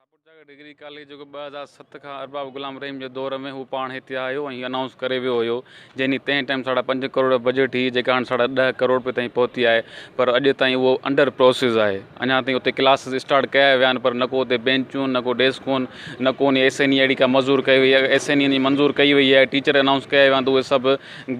شاهپور جاڳ degree college جيڪو ٻه هزار ست کان ارباب غلام رحيم جي دور ۾ هو پاڻ هتي آيو ۽ انائونس ڪري ويو هيو جنهن جي تنهن ٽائيم ساڍا پنج ڪروڙ رپيا بجيٽ هئي جيڪا هاڻي ساڍا ڏهه ڪروڙ رپيا تائين پهتي آهي پر اڄ تائين اهو انڊر پروسيس آهي اڃا تائين اتي ڪلاسز اسٽارٽ ڪيا ويا آهن پر نه ڪو اتي بينچون نه ڪو ڊيسڪون نه ڪو ان ايس اين اي اهڙي ڪا مزور ڪئي وئي ايس اين اي منظور ڪئي وئي آهي ٽيچر انائونس ڪيا ويا آهن ته اهي سڀ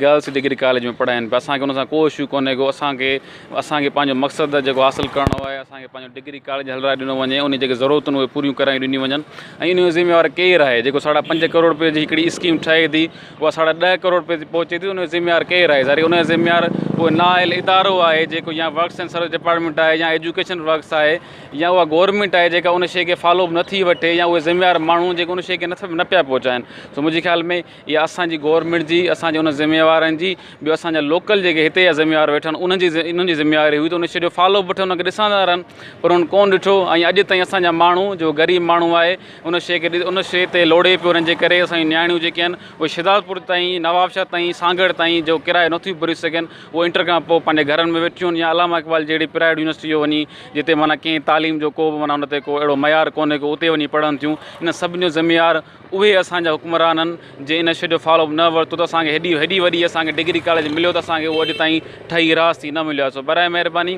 گرلس ڊگري ڪاليج ۾ پڙهائن پيا اسانکي ان سان ڪو اشو ڪونهي ڪو اسانکي اسان کي پنهنجو مقصد جيڪو حاصل ڪرڻو آهي، اسان کي پنهنجو ڊگري ڪاليج هلرائي ڏنو وڃي، انهي جي جيڪي ضرورتون اهي پوريون ڪرايون ڏنيون وڃن ۽ انهي جو ذميوار ڪير آهي، جيڪو ساڍا پنج ڪروڙ رپيي جي هڪڙي اسڪيم ٺهي ٿي اها ساڍا ڏهه ڪروڙ رپيي تي پهچي ٿي ته انهي جو ذميوار ڪير آهي، ظاهري انهي جو ذميوار اهو نااهل ادارو آهي جيڪو يا ورڪس اينڊ سروس ڊپارٽمينٽ آهي يا ايجوڪيشن ورڪس آهي يا اها گورنمينٽ آهي جيڪا ان شيء کي فالو به نٿي وٺي يا اهي ذميوار ماڻهو جيڪو ان شيء کي نه پيا پهچائين سو منهنجي خيال ۾ اها اسان جي گورنمينٽ جي اسان جي ان ذميوارن جي ٻيو اسان جا لوڪل جيڪي هتي جا ذميوار ويٺا آهن انهن جي انهن جي ذميواري هئي ته ان شي جو فالو به وٺن ان کي ڏسندا رهن پر انهن ڪونه ڏٺو ۽ اڄ تائين اسان جا ماڻهو جو غريب ماڻهو آهي ان شي کي ان شي تي لوڙي پيو انهن جي ڪري اسان جون نياڻيون جيڪي آهن اهي شهدادپور تائين نوابشاهه تائين سانگهڙ تائين جو ڪرايو نٿيون ڀري سگهن اهو انٽر کان پوء پنهنجي گهرن ۾ ويٺيون آهن يا علامه اقبال جهڙي پرائيويٽ يونيورسٽي جو وڃي جتي معنيٰ ڪنهن تعليم جو ڪو به معنيٰ ان تي ڪو اهڙو معيار ڪونهي ڪو اتي وڃي پڙهن ٿيون ان سڀني جو ذميوار اهي اسان جا حڪمران هن جي ان شيء جو فالو اپ نه ورتو ته اسان کي هيڏي هيڏي وڏي اسان کي ڊگري ڪاليج مليو ته اسان کي اهو اڄ تائين ٺهي راس ٿي نه مليو آهي سو براء مهرباني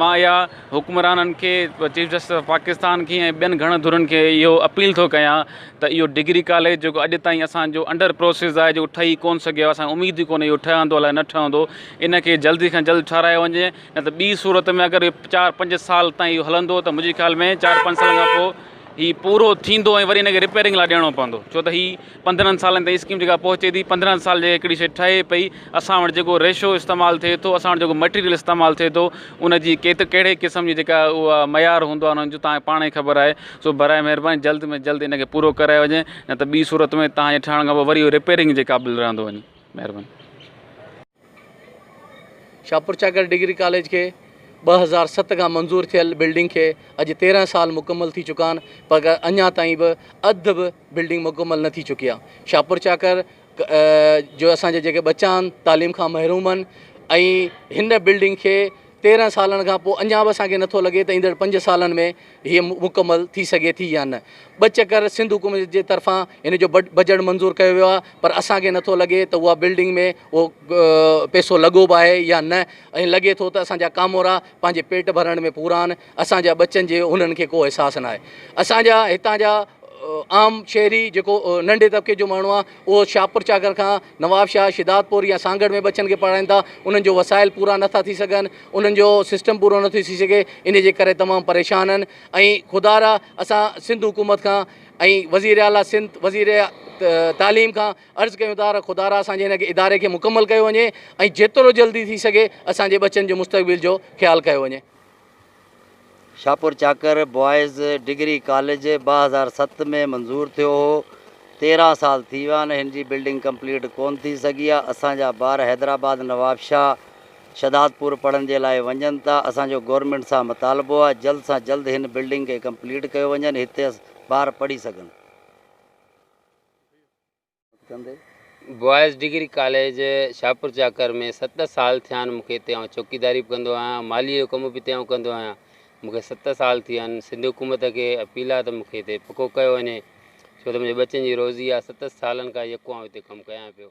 مان اها حڪمرانن کي چيف جسٽس آف پاڪستان کي ۽ ٻين گهڻن ڌرين کي اهو اپيل ٿو ڪيان ته اهو ڊگري ڪاليج جيڪو اڄ تائين اسان جو انڊر پروسيس آهي جيڪو ٺهي ڪون سگهيو آهي اسان کي اميد ئي ڪونهي اهو ٺهندو الاء نه ٺهندو ان کي جلدي کان جلد ٺهرايو وڃي نه ته ٻي صورت ۾ اگر چار پنج سال تائين اهو هلندو ته منهنجي خيال ۾ چار پنج سالن کان پوء هي پورو ٿيندو ۽ وري هن کي رپيئرنگ لاء ڏيڻو پوندو ڇو ته هي پندرهن سالن تائين اسڪيم جيڪا پهچي ٿي پندرهن سال جي هڪڙي شيء ٺهي پئي اسان وٽ جيڪو ريشو استعمال ٿئي ٿو اسان وٽ جيڪو مٽيريل استعمال ٿئي ٿو ان جي ڪيت ڪهڙي قسم جي جيڪا اها معيار هوندو آهي ان جو تهان کي پاڻ ئي خبر آهي سو براء مهرباني جلد ۾ جلد ان کي پورو ڪرايو وڃي نه ته ٻي صورت ۾ تهان جي ٺهڻ کان پوء وري اهو رپيئرنگ جي قابل رهندو وڃي مهرباني شاهپورچاڪر ڊگري ڪاليج کي ٻه هزار ست کان منظور ٿيل بلڊنگ کي اڄ تيرهن سال مڪمل ٿي چڪا آهن پر اڃا تائين به اڌ به بلڊنگ مڪمل نه ٿي چڪي آهي شاهپورچاڪر جو اسانجا جيڪي ٻچا آهن تعليم کان محروم آهن ۽ هن بلڊنگ کي تيرهن سالن کان پوء اڃا به اسان کي نٿو لڳي ته ايندڙ پنج سالن ۾ هيء مڪمل ٿي سگهي ٿي يا نه. ٻه چڪر سنڌ حڪومت جي طرفان هن جو بجٽ منظور ڪيو ويو آهي پر اسان کي نٿو لڳي ته اها بلڊنگ ۾ اهو پيسو لڳو به آهي يا نه ۽ لڳي ٿو ته اسان جا ڪامورا پنهنجي پيٽ ڀرڻ ۾ پورا آهن اسان جا ٻچن جي انهن کي ڪو احساس ناهي اسان جا هتان جا عام شهري جيڪو ننڍي طبقي جو ماڻهو آهي اهو شاهپور چاڪر کان نوابشاهه، شھدادپور يا سانگهڙ ۾ ٻچن کي پڙهائين ٿا، انهن جو وسائل پورا نه ٿا ٿي سگهن، انهن جو سسٽم پورو نه ٿي ٿي سگهي، انهي جي ڪري تمام پريشان آهن ۽ خدارا اسان سنڌ حڪومت کان ۽ وزير اعليٰ سنڌ وزير تعليم کان عرض ڪيون ٿا ته خدارا اسان جي هن اداري کي مڪمل ڪيو وڃي ۽ جيترو جلدي ٿي سگهي اسان جي ٻچن جو مستقبل جو خيال ڪيو وڃي. Shahpur Chakar boys degree college ٻه هزار ست ۾ منظور ٿيو هو تيرهن سال ٿي ويا آهن هن جي بلڊنگ ڪمپليٽ ڪون ٿي سگهي آهي اسان جا ٻار حيدرآباد نوابشاهه شھدادپور پڙهڻ جي لاء وڃن ٿا اسان جو گورنمينٽ سان مطالبو آهي جلد سان جلد هن بلڊنگ کي ڪمپليٽ ڪيو وڃن هتي ٻار پڙهي سگهن. بوائز ڊگري ڪاليج شاهپورچاڪر ۾ ست سال ٿيا آهن مون کي اتي آئون چوڪيداري به ڪندو آهيان ماليء جو ڪم به اتي آئون ڪندو آهيان مون کي ست سال ٿي ويا آهن سنڌ حڪومت کي اپيل آهي ته مون کي اتي پڪو ڪيو وڃي ڇو ته منهنجي ٻچن جي روزي آهي ست سالن کان يڪو آئون اتي ڪم ڪيان پيو